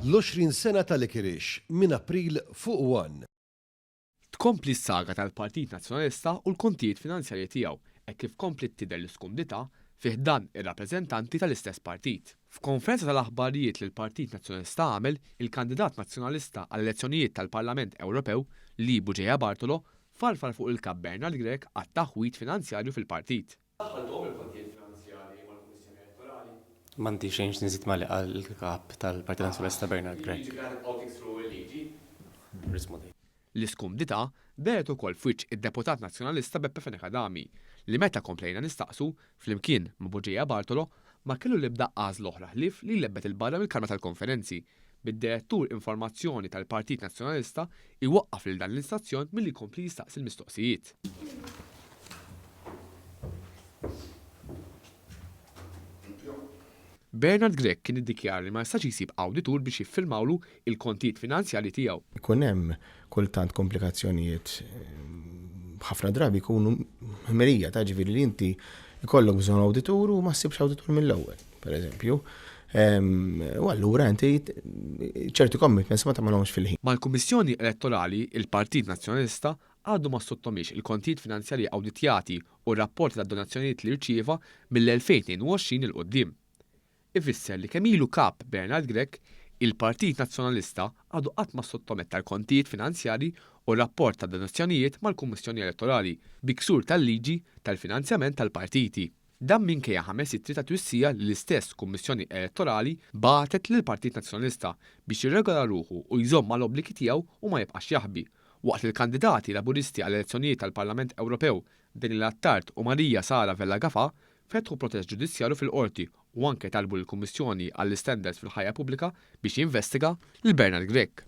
L-20 sena ta' Likirix, minn April fuq one. Tkompli s-saga tal-Partit Nazzjonalista u l-kontijiet finanzjarji tiegħu hekk kif kompliet tidher l-iskundità fi ħdan ir-rappreżentanti tal-istess partit. F'konferenza tal-aħbarijiet li l-Partit Nazzjonalista għamel, il-kandidat Nazzjonalista għall-elezzjonijiet tal-Parlament Ewropew, Lee Bugeja Bartolo, Farfar fuq il-Kap Bernard Grech għat-taħwid finanzjarju fil-partit. Daħħalthom il-kontijiet finanzjarji mal-Kummissjoni Elettorali. M'għandi xejn x'nżid ma' li qal il-Kap tal-Partit Nazzjonalista Bernard Grech. L-iskumdità dehret ukoll f'wiċċ id-Deputat Nazzjonalista Beppe Fenech Adami li meta komplejna nistaqsu, flimkien ma' Buġeja Bartolo, ma kellu l-ebda għażla oħra ħlief li jlebbet 'il barra mill-Kamra tal-Konferenzi, bid-Direttur informazzjoni tal-Partit Nazzjonalista jwaqqaf lil dan l-instazzjon milli jkompli jistaqsi l-mistoqsijiet. Bernard Grech kien iddikjara li ma jistax jsib awditur biex jiffirmawlu il-kontijiet finanzjarji tiegħu. Ikun hemm kultant komplikazzjonijiet ħafna drabi jkunu ħmerija ta' ġifieri li inti jkollok bżonn awditur u ma ssibx awditur mill-ewwel, pereżempju. Ehm, u allura inti ċerti commitments ma tagħmelhomx fil-ħin. Mal-Kummissjoni Elettorali, il-Partit Nazzjonalista għadu ma ssottomiex il-kontijiet finanzjarji awditjati u r-rapporti tad-donazzjonijiet li rċieva mill-2022 'il quddiem. ifisser li kemm ilu Kap Bernard Grech, il-Partit Nazzjonalista għadu qatt ma ssottometta l-kontijiet finanzjarji u r-rapport ta' donazzjonijiet mal-Kummissjoni Elettorali bi ksur tal-liġi tal-finanzjament tal-partiti. Dan minkejja ħames ittri ta' twissija li l-istess Kummissjoni Elettorali bagħtet lill-Partit Nazzjonalista biex jirregola ruħu u jżomm mal-obbligi tiegħu u ma jibqax jaħbi, waqt li l-kandidati Laburisti għall-elezzjonijiet tal-Parlament Ewropew Daniel Attard u Maria Sara Vella Gafà fetħu protest ġudizzjarju fil-Qorti u anke talbu lill-Kummissjoni għall-Istandards fil-Ħajja Pubblika biex jinvestiga lil Bernard Grech.